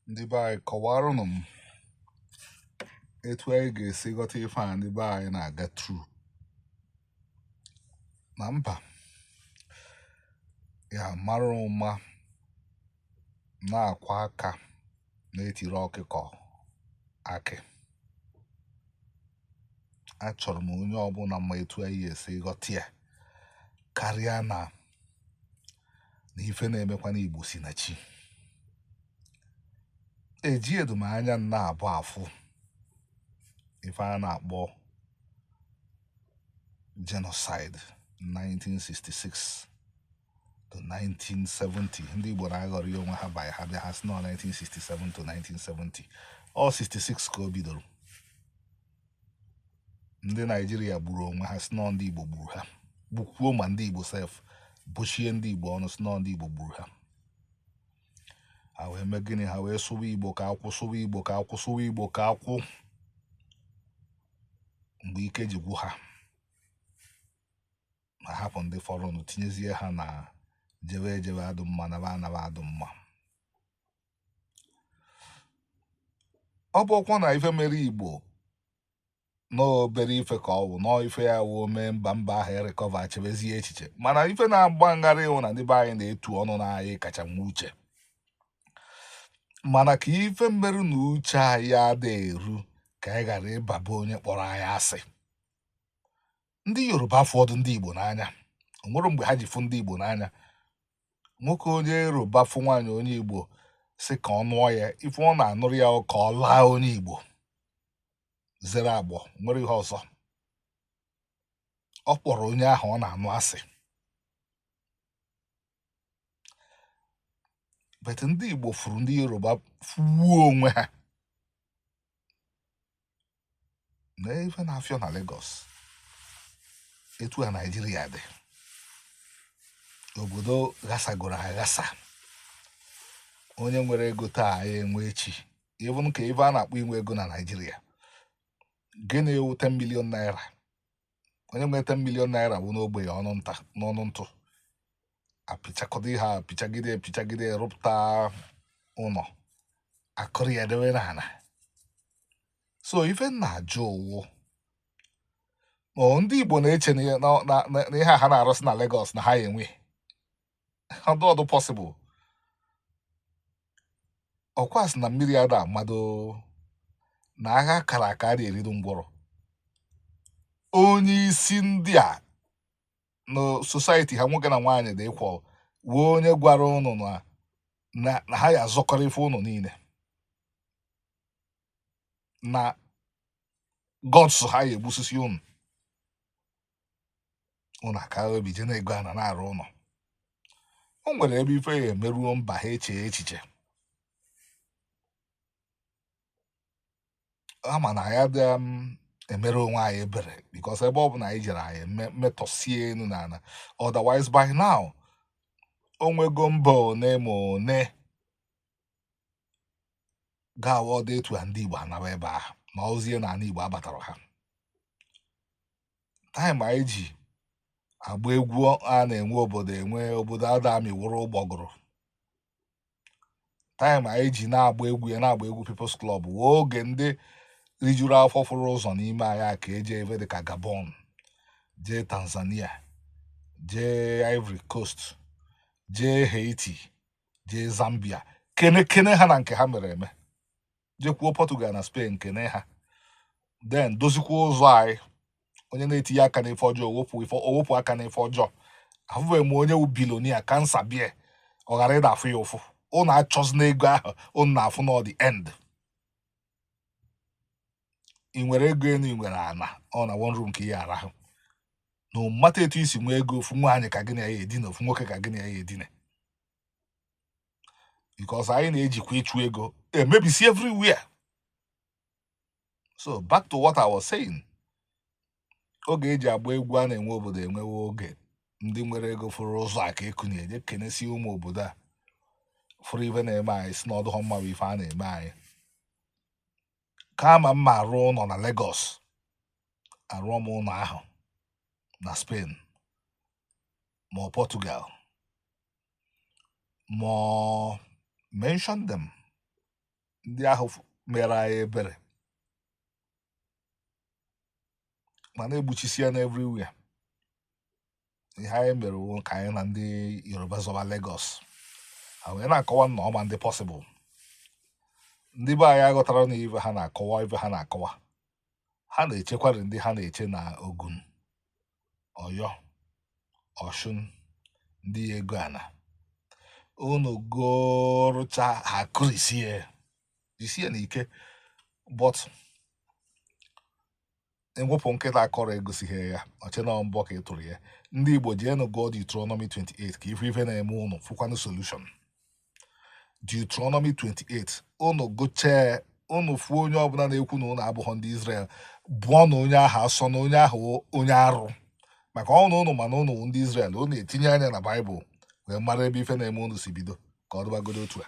ndị be anyị kọwarụnụ m etu anyị ga-esi ghọta ife a ndị be anyị na-aga through na mba ya mara ụma na-akwọ aka na-etiri ọkụkọ akị achọrọ m onye ọbụla ma etu anyị ga-esi ghọta ya karịa na na ife na-emekwa n'Igbo si na chi eji edumanya nna abụ afụ ife a na-akpọ genocide 1966 to 1970 ndị Igbo na-aghọrị onwe ha by ha bịa ha sị na ọ 1967 to 1970 ọ 66 ka o bidoro ndị naijiria gburu onwe ha sị na ndị igbo gburu ha gbukwuo ma ndị igbo sef bụchie ndị igbo ọnụ sị na ndị igbo gburu ha ha wee mee gịnị ha wee sụwa igbo ka akwụ sụwa igbo ka akwụ sụwa igbo ka akwụ mgbe ike ji gwụ ha ma hapụ ndị fọrọnụ tinyezie ha na jewe ejewe adụ mma naba anaba adụ mma ọ bụkwa na ife mere igbo n'obere ife ka ọ bụ n'ife ya wụ o mee mba mba ahụ e-recover chebezie echiche mana ife na-agba m gharị wụ na ndị be anyị na-etu ọnụ na anyị kacha nwe uche mana ka ife mere na uche anyị ada eru ka anyị ghara ịbaba onye kpọrọ anyị asị ndị yoruba afọdụ ndị igbo n'anya o nwere mgbe ha ji fụ ndị igbo n'anya nwoke onye yoruba fụ nwaanyị onye igbo sị ka ọ nụọ ya ife ọ na-anụrụ ya ọ ka ọ laa onye igbo zere agbọ nwere ihe ọzọ ọ kpọrọ onye ahụ ọ na-anụ asị but ndị igbo fụrụ ndị yoruba fụwuo onwe ha na ife na-afịọ na Lagos etu a Naijiria dị obodo ghasagoro aghasa onye nwere ego taa ya-enwe echi even ka ife a na-akpọ inwe ego na Naijiria gịnị wụ 10 million naira onye nwe 10 million naira wụ nwa ogbenye ọnụ ntụ apịchakọta ihe a pịchagide pịchagide rụpụta ụlọ a kụrie ya dewe n'ala so ife m na-ajụ ọ wụ ma ndị Igbo na-eche na ihe a ha na-arụsị na Lagos na ha ya-enwe ọ dụọdụ possible ọkwa sị na mmiri ada amado na agha kara aka adị eridu ngwọrọ onye isi ndị a na society ha nwoke na nwaanyị dị equal wee onye gwara ụnụ na ha ya azọkọrọ ife ụnụ niile na Lagos ha ya egbusisi ụnụ ụnụ aka ebi je na-ego ana na-arụ ụnọ o nwere ebe ife ya emeruo mba ha eche echiche ama na ya dị um, emere onwe anyị ebere because ebe ọ bụla anyị jere anyị metọsie enu na ana otherwise by now o nwego mba one ma one ga-awụ ọ dụ etu a ndị Igbo anaba ebe ahụ ma ozie na ana Igbo abatara ha time anyị ji agba egwu a na-enwe obodo enwe obodo ada amị wụrụ ụgbọgụrụ time anyị ji na-agba egwu ya na-agba egwu People's Club wụ oge ndị rijuru afọ fụrụ ụzọ n'ime anyị aka eje ebe dịka Gabon jee Tanzania jee Ivory Coast jee Haiti jee Zambia kene kene ha na nke ha mere eme jekwuo Portugal na Spain kene ha then dozikwuo ụzọ anyị onye na-etinye aka n'ife ọjọọ owepụ aka n'ife ọjọọ afụbeghị m onye wu billionaire cancer bịa ọ ghara ịda afụ ya ụfụ ụnụ achọzina ego ahụ ụnụ na-afụ n'ọ the end ị nwere ego enu ị nwere ana ọ na one room ka ị ya arahụ no matter etu i si nwee ego ofu nwaanyị ka gị na ya edina ofu nwoke ka gị na ya edina because anyị na-ejikwa ịchụ ego emebisi everywhere so back to what I was saying oge eji agba egwu a na-enwe obodo enwe wụ oge ndị nwere ego fụrụ ụzọ aka ekunie je kenesie ụmụ obodo a fụrụ ife na-eme anyị sị na ọ dụghọ mma bụ ife a na-eme anyị kama m ma arụ ụnọ na Lagos arụọ m ụlọ ahụ na Spain ma ọ Portugal ma ọ mention them ndị ahụ mere anyị ebere mana egbuchisia n'everywhere ihe anyị mere wụ ka anyị na ndị Yoruba zọba Lagos ha wee na-akọwa na ọ ma adị possible ndị be anyị aghọtara na ife ha na-akọwa ife ha na-akọwa ha na-echekwari ndị ha na-eche na ogun ọyọ ọshun ndị ego ana unu gorocha ha kụrisie jisienụ ike but i wopụ nkịta akọrọ egosighị ya o chee na mbọ ka ị tụrụ ya ndị igbo jeenụ gụọ Deuteronomy 28 ka ị fụ ife na-eme ụnụ fụkwanụ solution Deuteronomy 28 ụnụ gụchee ụnụ fụ onye ọbụla na-ekwu na ụnụ abụghọ ndị Israel bụọnụ onye ahụ asọ na onye ahụ onye arụ maka na ụnụ ma na ụnụ wụ ndị Israel ụnụ etinye anya na Baịbụl wee mara ebe ife na-eme ụnụ si bido ka ọ dịbagodo otu a